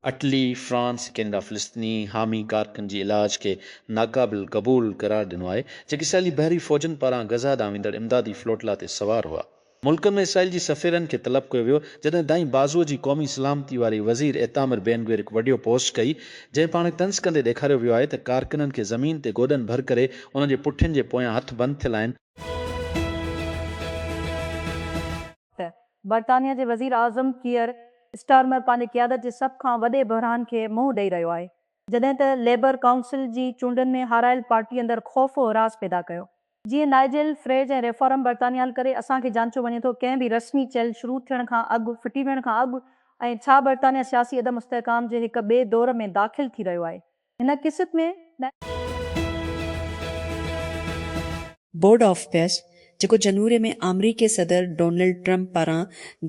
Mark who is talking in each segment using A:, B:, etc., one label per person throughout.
A: Italy, France Canada فلسطيني حامي ڪارڪن جي علاج کي ناقابل قبول قرار ڏنو آهي، جيڪي اسرائيلي بحري فوجن پاران غزه ڏانهن ويندڙ امدادي فلوٽلا تي سوار هئا. ملڪن ۾ اسرائيل جي سفيرن کي طلب ڪيو ويو، جڏهن دائين بازو جي قومي سلامتي واري وزير ايتامر بين گوير هڪ وڊيو پوسٽ ڪئي، جنهن پاڻ کي طنز ڪندي ڏيکاريو ويو آهي ته ڪارڪنن کي زمين تي گوڏن ڀر ڪري انهن جي پٺين جي پويان هٿ بند ٿيل آهن.
B: ته برطانيا جي وزير اعظم ڪيئر اسٽارمر پنهنجي قيادت جي سڀ کان وڏي بحران کي منهن ڏئي رهيو آهي جڏهن ته ليبر ڪائونسل جي چونڊن ۾ هارايل پارٽي اندر خوف و هراس پيدا ڪيو جيئن نائيجل فريج ۽ ريفارم برطانيال ڪري اسان کي جانچيو وڃي ٿو ڪنهن به رسمي چيل شروع ٿيڻ کان اڳ ڦٽي ويڻ کان اڳ ۽ ڇا برطانيا سياسي عدم استحڪام جي هڪ ٻئي دور ۾ داخل ٿي رهيو آهي هن قسط ۾
C: بورڊ آف پيس جيڪو جنوري ۾ آمريڪي صدر ڊونلڊ ٽرمپ پاران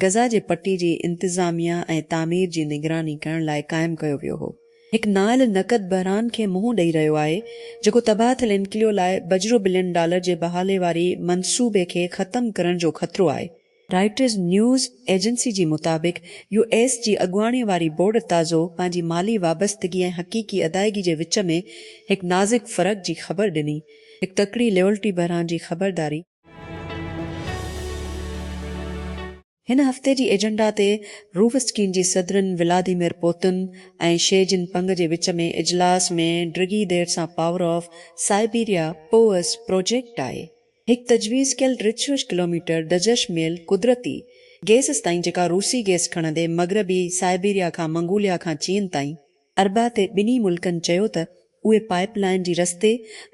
C: غزه جي پٽي جي انتظاميه ۽ تعمير جي نگراني ڪرڻ لاء قائم ڪيو ويو هو هڪ نااهل نقد بحران کي منهن ڏئي رهيو آهي، جيڪو تباهه ٿيل انڪليو لاء بجرو بلين ڊالر جي بحالي واري منصوبي کي ختم ڪرڻ جو خطرو آهي. رائٽرز نيوز ايجنسي جي مطابق، يو ايس جي اڳواڻي واري بورڊ تازو پنهنجي مالي وابستگي ۽ حقيقي ادائيگي جي وچ ۾ هڪ نازڪ فرق جي خبر ڏني، هڪ تڪڙي ليئلٽي بحران جي خبرداري. هن هفتي جي ايجنڊا تي روس چين جي صدرن Vladimir Putin ۽ Xi Jinping وچ ۾ اجلاس ۾ ڊگهي دير سان پاور آف سائبيريا پوئس پروجيڪٽ آء هڪ تجويز ڪيل ٽي سو ڪلوميٽر دجش ميل قدرتي گيس تائين جيڪا روسي گيس کڻندي مغربي سائبيريا کان منگوليا کان چين تائين اربع تي ٻنهي ملڪن چيو ته اهي پائيپ لائين جي رستي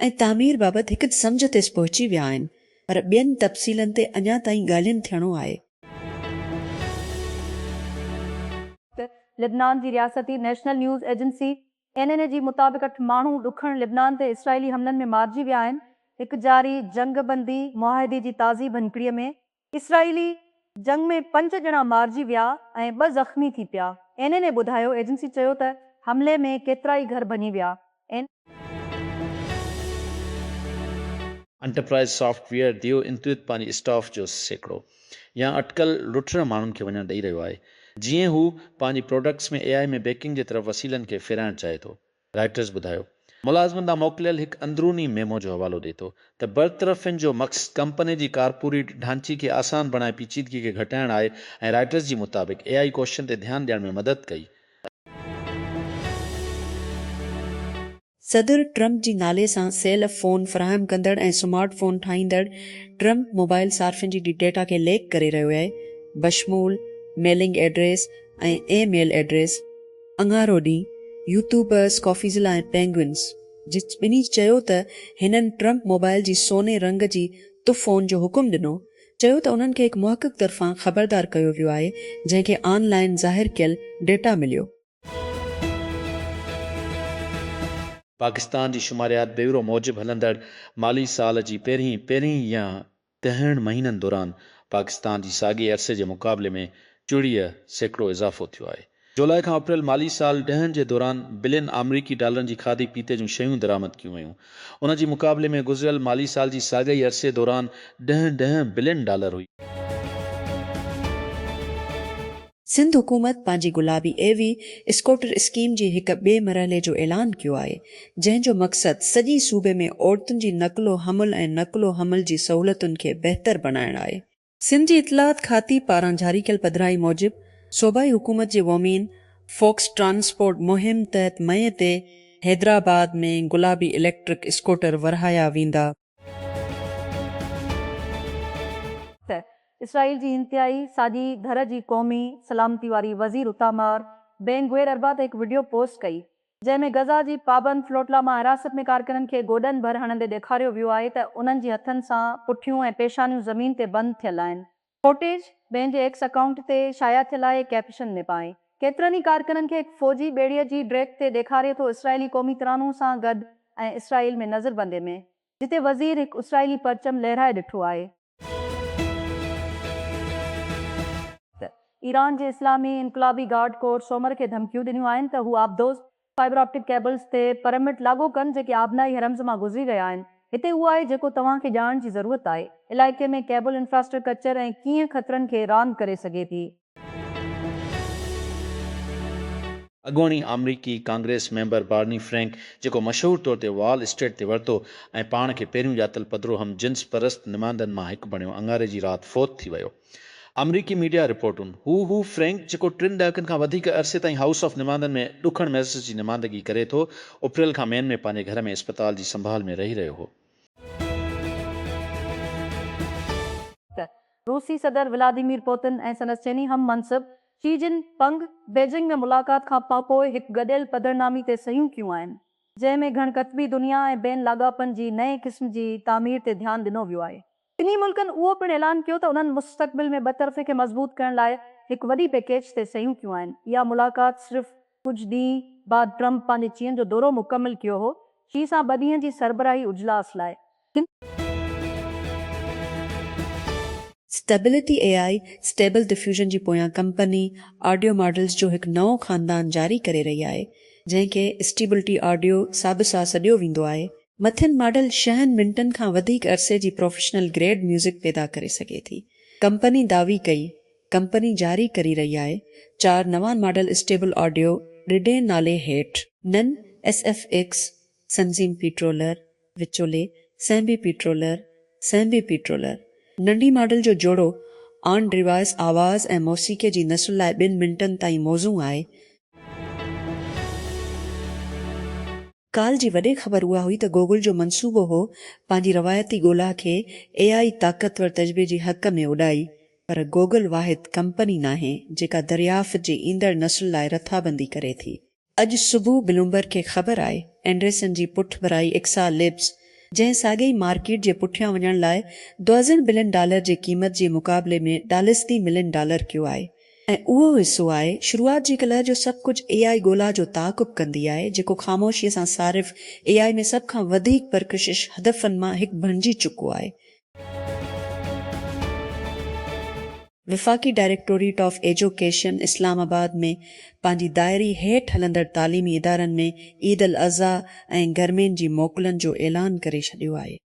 C: ۽ تعمير بابت هڪ سمجهه تي پهچي ويا آهن پر ٻين تفصيلن تي اڃا تائين ڳالهين ٿيڻو آهي.
B: لبنان جي رياستي national news agency, N N A, جي مطابق اٺ ماڻهو ڏکڻ لبنان تي اسرائيلي حملن ۾ مارجي ويا آهن. هڪ جاري جنگ بندي معاهدي جي تازي ڀڃڪڙي ۾ اسرائيلي جنگ ۾ پنج ڄڻا مارجي ويا ۽ ٻه زخمي ٿي پيا، اين اين اي ٻڌايو ايجنسي چيو ته حملي ۾ ڪيترائي گهر ڀڃي ويا، اين.
A: انٽرپرائيز سافٽ ويئر ديو انتويت پنهنجي اسٽاف جو سيڪڙو يا اٽڪل لٽيرن ماڻهن کي وڃڻ ڏئي رهيو آهي جيئن هو پنهنجي پراڊڪٽس ۾ اي آء ۾ بيڪنگ جي طرف وسيلن کي ڦيرائڻ چاهي ٿو. رائٽرز ٻڌايو ملازمن ڏانهن موڪليل هڪ اندروني ميمو جو حوالو ڏئي ٿو ته برطرفين جو مقصد ڪمپني جي ڪارپوريٽ ڍانچي کي آسان بڻائي پيچيدگي کي گهٽائڻ آهي ۽ رائٽرز جي مطابق اي آئي ڪوششن تي ڌيان ڏيڻ ۾ مدد ڪئي
C: صدر ٽرمپ جي نالي سان سيل فون فراهم ڪندڙ ۽ سمارٽ فون ٺاهيندڙ ٽرمپ موبائل صارفين جي ڊيٽا کي ليڪ ڪري رهيو آهي، بشمول mailing address ۽ email address. اڱارو ڏينهن يوٽيوبرز ڪافيزلا ۽ پينگوئنز جي ٻنهي چيو ته هنن ٽرمپ موبائل جي سوني رنگ جي تف فون جو حڪم ڏنو چيو ته انهن کي هڪ محقق طرفان خبردار ڪيو ويو آهي جنهن کي آن لائين ظاهر ڪيل ڊيٽا مليو.
A: پاڪستان جي شماريات بيورو موجب هلندڙ مالي سال جي پهرين پهرين يا ڏهن مهينن دوران پاڪستان جي ساڳئي عرصي جي مقابلي ۾ چويهه سيڪڙو اضافو ٿيو آهي. جولاء کان اپريل مالي سال ڏهن جي دوران بلين آمريڪي ڊالرن جي کاڌي پيتي جون شيون درآمد ڪيون ويون. ان جي مقابلي ۾ گذريل مالي سال جي ساڳئي عرصي دوران ڏهن ڏهن بلين ڊالر هئي.
C: سنڌ حڪومت پنهنجي گلابي اي وي اسڪوٽر اسڪيم جي هڪ ٻئي مرحلي جو اعلان ڪيو آهي، جنهن جو مقصد سڄي صوبي ۾ عورتن جي نقل و حمل ۽ نقل و حمل جي سهولتن کي بهتر بڻائڻ آهي. سنڌ جي اطلاعات کاتي پاران جاري ڪيل پڌرائي موجب، صوبائي حڪومت جي وومين فوڪس ٽرانسپورٽ مهم تحت مئي تي حيدرآباد ۾ گلابي اليڪٽرڪ اسڪوٽر ورهايا ويندا،
B: ته اسرائيل جي انتهائي ساڄي ڌر جي قومي سلامتي واري وزير اتامار بين گوير اربع تي هڪ وڊيو پوسٽ ڪئي جنهن ۾ غزه جي پابند فلوٽلا مان حراست ۾ ڪارڪنن کي گوڏن ڀر هڻندي ڏيکاريو ويو آهي ته انهن جي هٿن سان پٺيون ۽ پيشانيون زمين تي بند ٿيل آهن فوٽيج پنهنجي ايڪس اڪائونٽ تي شايع ٿيل آهي ڪيپشن ۾ پاڻ ڪيترن ئي ڪارڪنن کي هڪ فوجي ٻيڙي جي ڊيڪ تي ڏيکاري ٿو اسرائيلي قومي ترانو سان گڏ ۽ اسرائيل ۾ نظربندي ۾ جتي وزير هڪ اسرائيلي پرچم لهرائي ڏٺو آهي ته ايران جي اسلامي انقلابي گارڊ ڪور سومر کي ڌمڪيون ڏنيون آهن ته هو آبدوز فائبر آپٽڪ ڪيبلز تي پرمٽ لاڳو ڪن جيڪي آبنائي حرمز مان گذري رهيا آهن. هتي اهو آهي جيڪو توهان کي ڄاڻڻ جي ضرورت آهي. علائقي ۾ ڪيبل انفراسٽرڪچر ۽ ڪيئن خطرن کي راند ڪري سگهي ٿي. اڳوڻي
A: آمريڪي ڪانگريس ميمبر بارني فرينڪ جيڪو مشهور طور تي وال اسٽريٽ تي ورتو ۽ پاڻ کي پهريون ڄاتل پڌرو هم جنس پرست نمائندن مان هڪ بڻيو اڱاري جي رات فوت ٿي ويو. آمريڪي ميڊيا رپورٽون، هو هو فرينڪ جيڪو ٽن ڏهاڪن کان وڌيڪ عرصي تائين هائوس آف نماندن ۾ ڏکڻ ميسس جي نماندگي ڪري ٿو، اپريل کان مين ۾ پنهنجي گهر ۾ اسپتال جي سنڀال ۾ رهي رهيو هو.
B: روسي صدر ولاديمير پوتن ۽ سندس چيني هم منصب شي جن پنگ بيجنگ ۾ ملاقات کان پاپوء هڪ گڏيل پڌرنامي تي صحيحون ڪيون آهن، جنهن ۾ گهڻ قطبي دنيا ۽ بين لاڳاپن جي نئين قسم جي تعمير تي ڌيان ڏنو ويو آهي. ٻنهي ملڪن اهو پڻ اعلان ڪيو ته انهن مستقبل ۾ ٻطرفي کي مضبوط ڪرڻ لاء هڪ وڏي پيڪيج تي صحيحون ڪيون آهن. اها ملاقات صرف ڪجهه ڏينهن بعد ٽرمپ پنهنجي چين جو دورو مڪمل ڪيو هو، شي سان ٻه ڏينهن جي سربراهي اجلاس لاء. Stability
C: A I Stable Diffusion جي پويان ڪمپني آڊيو ماڊلز جو هڪ نئون خاندان جاري ڪري رهي آهي جنهن کي اسٽيبلٽي آڊيو سابسا سڏيو ويندو آهي مٿين ماڊل ڇهن منٽن کان وڌيڪ عرصي جي پروفيشنل گريڊ ميوزڪ پيدا ڪري سگهي ٿي. ڪمپني دعوي ڪئي ڪمپني جاري ڪري رهي آهي چار نوان ماڊل اسٽيبل آڊيو ڊڊين نالي هيٺ. نن ايس ايف ايڪس، سنزيم پيٽرولر، وچولي، سيمبي پيٽرولر، Sembi Petroler، ننڍي ماڊل جو جوڙو آن ڊيوائس آواز ۽ موسيقي جي نسل لاء ٻن منٽن تائين موزون آهي. ڪالهه جي وڏي خبر اها هئي ته گوگل جو منصوبو هو پنهنجي روايتي ڳولا کي اي آء طاقتور تجربي جي حق ۾ اڏائي پر گوگل واحد ڪمپني ناهي جيڪا دريافت جي ايندڙ نسل لاء رٿابندي ڪري ٿي. اڄ صبح بلومبرگ کي خبر آئي اينڊريسن جي پٺڀرائي ايڪسا ليبز جنهن ساڳي ئي مارڪيٽ جي پٺيان وڃڻ لاء دوازڻ بلين ڊالر جي قيمت جي مقابلي ۾ ڊالسدي ملين ڊالر ڪيو آهي ۽ اهو حصو آهي شروعات جي ڪلهه جو سڀ ڪجهه اي آء ڳولا جو تعاقب ڪندي آهي جيڪو خاموشي سان صارف اي آء ۾ سڀ کان وڌيڪ پرڪشش هدفن مان هڪ بڻجي چڪو آهي. وفاقي directorate of education Islamabad ۾ پنهنجي دائري هيٺ هلندڙ تعليمي ادارن ۾ عيد الاضحيٰ ۽ گرمين جي موڪلن جو اعلان ڪري ڇڏيو آهي.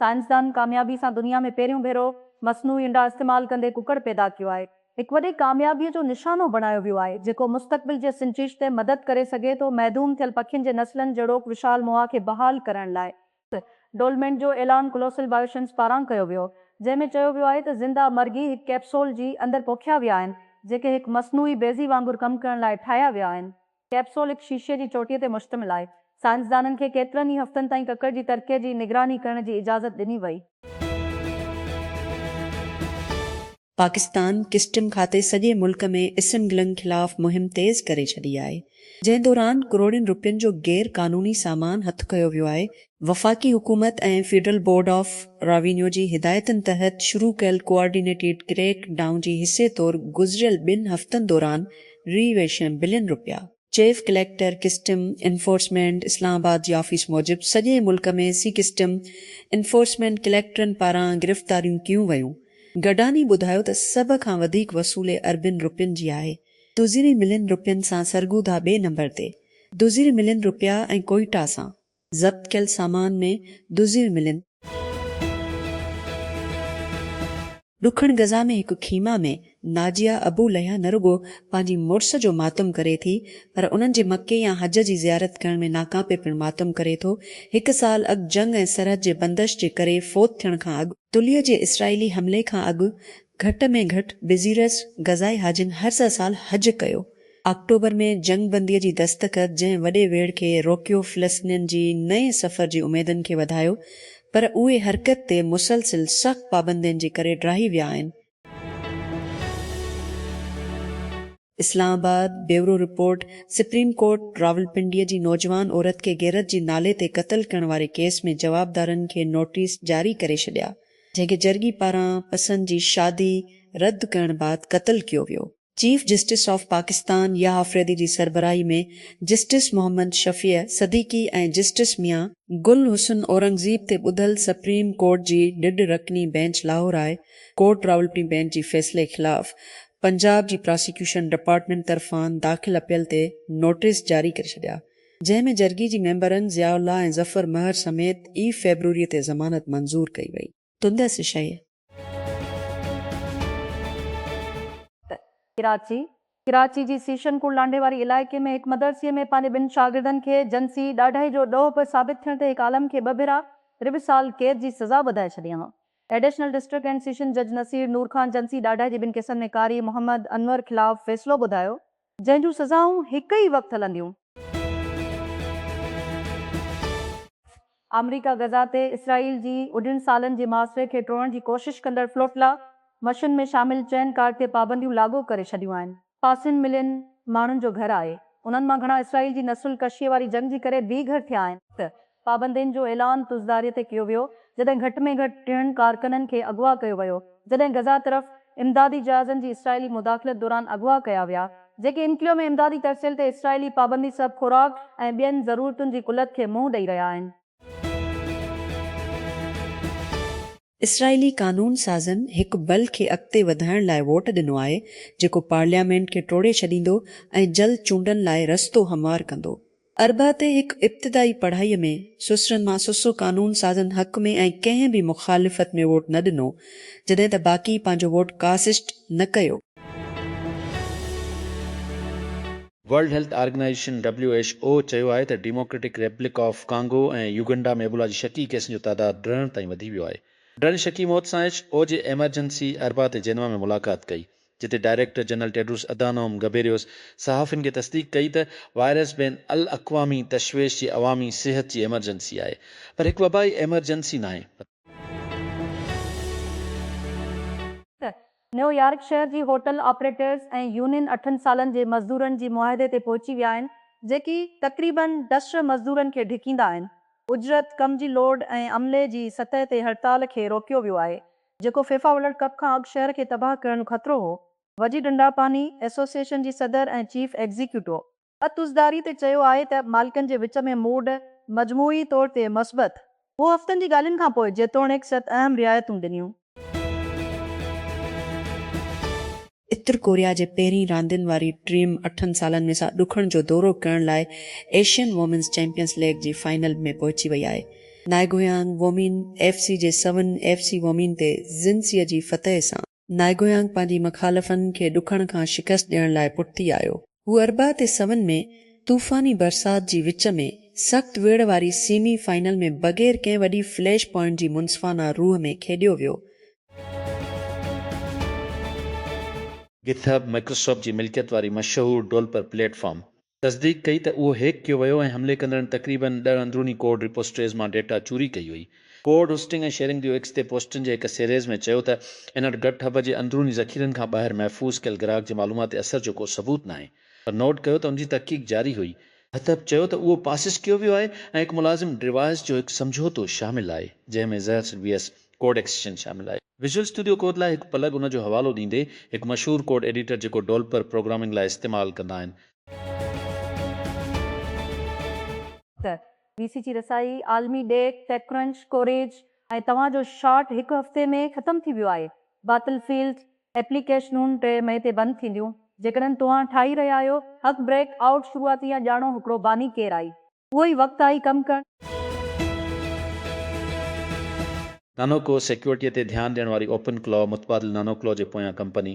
B: سائنسدانن ڪاميابي سان دنيا ۾ پهريون ڀيرو مصنوعي انڊا استعمال ڪندي ڪڪڙ پيدا ڪيو آهي. هڪ وڏي ڪاميابيء جو نشانو بڻايو ويو آهي، جيڪو مستقبل جي سنجش تي مدد ڪري سگهي ٿو، محدوم ٿيل پکين جي نسلن جهڙوڪ وشال موها کي بحال ڪرڻ لاء. ڊولمينٽ جو اعلان ڪلوسل بائيوشنس پاران ڪيو ويو، جنهن ۾ چيو ويو آهي ته زنده مرغي هڪ ڪيپسول جي اندر پوکيا ويا آهن، جيڪي هڪ مصنوعي بيضي وانگر ڪم ڪرڻ لاء ٺاهيا ويا آهن. ڪئپسول هڪ شيشي جي چوٽيء تي مشتمل آهي. سائنسدانن کي ڪيترن ئي هفتن تائين ڪڪڙ جي ترڪيء جي نگراني ڪرڻ جي اجازت ڏني وئي.
C: پاڪستان ڪسٽم کاتي سڄي ملڪ ۾ اسمگلنگ خلاف مهم تيز ڪري ڇڏي آهي، جنهن دوران ڪروڙين روپين جو غير قانوني سامان هٿ ڪيو ويو آهي، وفاقي حڪومت ۽ فيڊرل بورڊ آف راوينيو جي هدايتن تحت شروع ڪيل ڪوآرڊينيٽيڊ ڪريڪ ڊائون جي حصي طور گذريل ٻن هفتن دوران ري ويشين بلين رپيا chief collector customs enforcement Islamabad جي آفيس موجب سڄي ملڪ ۾ سي ڪسٽم انفورسمينٽ ڪليڪٽرن پاران گرفتاريون ڪيون ويون گڊاني ٻڌايو ته سڀ کان وڌيڪ وصولي اربين رپين جي آهي دوزيري ملين رپين سان سرگوڌا ٻئي نمبر تي دوزيري ملين رپيا ۽ ڪوئيٽا سان ضبط ڪيل سامان ۾ دزيون ملين. ڏکڻ غزه ۾ هڪ خيمه ۾ ناجيه ابو ليا نه رڳو پنهنجي مڙس جو ماتم ڪري ٿي پر انهن جي مڪي يا حج جي زيارت ڪرڻ ۾ ناڪامپي پڻ ماتم ڪري ٿو. هڪ سال اڳ جنگ ۽ سرحد جي بندش جي ڪري فوت ٿيڻ کان اڳ، تليء جي اسرائيلي حملي کان اڳ گهٽ ۾ گهٽ بزيرس غزائي حاجين هر سه سال حج ڪيو. آڪٽوبر ۾ جنگ بنديء جي دستخط جنهن وڏي ويڙهه کي روڪيو فلسطنين جي نئين سفر جي اميدن کي وڌايو پر اهي حرڪت تي مسلسل سخت پابندين جي ڪري ڊاهي ويا آهن. Islamabad, bureau report, supreme court Rawalpindi جي نوجوان عورت کي غيرت جي نالي تي قتل ڪرڻ واري ڪيس ۾ جوابدارن کي نوٽيس جاري ڪري ڇڏيا، جنهن کي جرڳي پاران پسند جي شادي رد ڪرڻ بعد قتل ڪيو ويو. Chief justice of Pakistan Yahya Afridi جي سربراهي ۾ جسٽس محمد شفيع صديقي ۽ جسٽس ميان گل حسن اورنگزيب تي ٻڌل سپريم ڪورٽ جي ڏيڍ رڪني bench Lahore high court Rawalpindi bench جي فيصلي خلاف پنجاب جي پراسيڪيوشن ڊپارٽمينٽ طرفان داخل اپيل تي نوٽيس جاري ڪري ڇڏيا جنهن ۾ جرڳي جي ميمبرن ضياء الله ۽ ظفر مهر سميت اي فيبروري تي ضمانت منظور ڪئي وئي. تندس شيء.
B: ته ڪراچي، ڪراچي جي سيشن ڪوٽ لانڍي واري علائقي ۾ هڪ مدرسي ۾ پنهنجي ٻن شاگردن کي جنسي ڏاڍائي جو ڏوهه به ثابت ٿيڻ تي هڪ عالم کي ٻه ڀيرا ربع سال قيد جي سزا ٻڌائي ڇڏيائون. ايڊيشنل ڊسٽرڪٽ اينڊ سيشن جج نصير نور خان جنسي ڏاڍائي جي ٻن ڪيسن ۾ قاري محمد انور خلاف فيصلو ٻڌايو، جنهن جون سزائون هڪ ئي وقت هلنديون. آمريڪا غزه تي اسرائيل جي اڍين سالن جي محاصري کي ٽوڙڻ جي ڪوشش ڪندڙ فلوٽلا مشن ۾ شامل چئن ڪارڪ تي پابنديون لاڳو ڪري ڇڏيون آهن. پاسين ملين ماڻهن جو گهر آهي، انهن مان گهڻا اسرائيل جي نسل ڪشيء واري جنگ جي ڪري بي گهر ٿيا آهن. پابندين جو اعلان تزداري تي ڪيو ويو، جڏهن گهٽ ۾ گهٽ ٽيهن ڪارڪنن کي اغوا ڪيو ويو، جڏهن غزه طرف امدادي جهازن جي اسرائيلي مداخلت دوران اغوا ڪيا ويا، جيڪي انڪليو ۾ امدادي ترسيل تي اسرائيلي پابندي سبب خوراڪ ۽ ٻين ضرورتن جي قلت کي منهن ڏئي رهيا آهن.
C: اسرائيلي قانون سازن هڪ بل کي اڳتي وڌائڻ لاء ووٽ ڏنو آهي جيڪو پارليامينٽ کي ٽوڙي ڇڏيندو ۽ جلد چونڊن لاء رستو هموار ڪندو. اربع تي هڪ ابتدائي پڙهائي ۾ سسرن مان سسرو قانون سازن حق ۾ ۽ ڪنهن به مخالفت ۾ ووٽ نه ڏنو جڏهن ته باقي پنهنجو ووٽ ڪاسٽ نه ڪيو.
A: World health organisation, W H O, چيو آهي ته democratic republic of Congo ۽ Uganda ۾ Ebola جي شڪي ڪيسن جو تعداد ڊرڻ تائين وڌي ويو آهي. ڊرڻ شڪي موت سان ايڇ او جي ايمرجنسي اربع تي جينوا ۾ ملاقات ڪئي، جتي director general Tedros Adhanom Ghebreyesus صحافين کي تصديق ڪئي ته وائرس بين الاقوامي تشويش جي عوامي صحت جي ايمرجنسي آهي، پر هڪ وبائي ايمرجنسي ناهي.
B: نيويارڪ شهر جي هوٽل آپريٽرز ۽ يونين اٺن سالن جي مزدورن جي معاهدي تي پهچي ويا آهن، جيڪي تقريباً ڊسٽر مزدورن کي ڍڪيندا آهن. اجرت، ڪم جي لوڊ ۽ عملي جي سطح تي هڙتال کي روڪيو ويو آهي، جيڪو فيفا ورلڊ ڪپ کان اڳ شهر کي تباهه ڪرڻ جو خطرو هو. وجي ڊنڊاپاني ايسوسيئيشن جي صدر ۽ چيف ايگزيڪيوٽو اتوزداري تي چيو آهي ته مالڪن جي وچ ۾ موڊ مجموعي طور تي مثبت هو هفتن جي ڳالهين کان پوء جيتوڻيڪ ست اهم رعايتون ڏنيون.
C: اتر ڪوريا جي پهرين راندين واري ٽيم اٺن سالن ۾ سا ڏکڻ جو دورو ڪرڻ لاء ايشين وومينز چيمپيئنز ليگ جي فائنل ۾ پهچي وئي آهي. نائگويانگ وومين ايف سي جي سون ايف سي وومين تي زنسيء جي فتح سان. نائگويانگ پنهنجي مخالفن کي ڏکڻ کان شڪست ڏيڻ لاء پٺتي آيو. هو اربع تي سون ۾ طوفاني برسات جي وچ ۾ سخت ويڙهه واري سيمي فائنل ۾ بغير ڪنهن وڏي فليش پوائنٽ جي منصفانه روح ۾ کيڏيو ويو.
A: گٿ هب مائڪروسافٽ جي ملڪيت واري مشهور ڊولپر پليٽ فارم تصديق ڪئي ته اهو هيڪ ڪيو ويو ۽ حملي ڪندڙن تقريباً ڏهه اندروني ڪوڊ رپوسٽريز مان ڊيٽا چوري ڪئي هئي. ڪوڊ هوسٽنگ ۽ شيئرنگ ديو ايڪس تي پوسٽن جي هڪ سيريز ۾ چيو ته هن وٽ گٽ هب جي اندروني ذخيرن کان ٻاهر محفوظ ڪيل گراهڪ جي معلوماتي اثر جو ڪو ثبوت ناهي پر نوٽ ڪيو ته ان جي تحقيق جاري هئي. هٿب چيو ته اهو پاسس ڪيو ويو آهي ۽ هڪ ملازم ڊيوائس جو هڪ سمجهوتو شامل آهي جنهن ۾ زهر سلويئس ڪوڊ ايڪسٽينشن شامل آهي. ويزول اسٽوڊيو ڪوڊ لاء هڪ پلگ ان جو حوالو ڏيندي هڪ مشهور ڪوڊ ايڊيٽر جيڪو ڊولپر پروگرامنگ لاء استعمال ڪندا آهن.
B: ته وي سي جي رسائي عالمي ڏيک، ٽيڪ ڪرنچ، ڪوريج ۽ توهان جو شاٽ هڪ هفتي ۾ ختم ٿي ويو آهي. باطل فيلڊ ايپليڪيشنون ٽي مئي تي بند ٿينديون. جيڪڏهن توهان ٺاهي رهيا آهيو، هڪ بريڪ آئوٽ شروعاتي يا ڄاڻو هڪڙو باني ڪير آهي. اهو ئي وقت آهي ڪم
A: ڪرڻ. نانوڪو سيڪيورٽيء تي ڌيان ڏيڻ واري اوپن ڪلاء متبادل نانوڪلاء جي پويان ڪمپني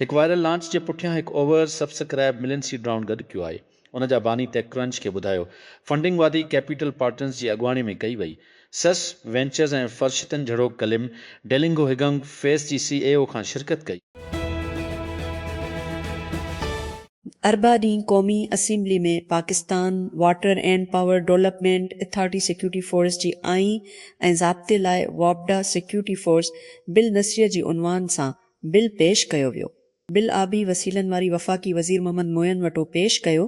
A: هڪ وائرل لانچ جي پٺيان هڪ oversubscribe million seed round گڏ ڪيو آهي. ان جا باني ٽيڪ ڪرنچ کي ٻڌايو. فنڊنگ وادي ڪيپيٽل پارٽنرز جي اڳواڻي ۾ ڪئي وئي. سس وينچرز ۽ فرشتن جھڙوڪ ڪلم ڊيلنگو هگنگ فيس جي سي اي او کان شرڪت ڪئي.
C: اربع ڏينهن قومي assembly ۾ Pakistan water and power development authority security force جي آئين ۽ ضابطي لاء واپڊا سيڪيورٽي فورس بل نثريه جي عنوان سان بل پيش ڪيو ويو بل آبي وسيلن واري وفاقي وزير محمد معين وٽو پيش ڪيو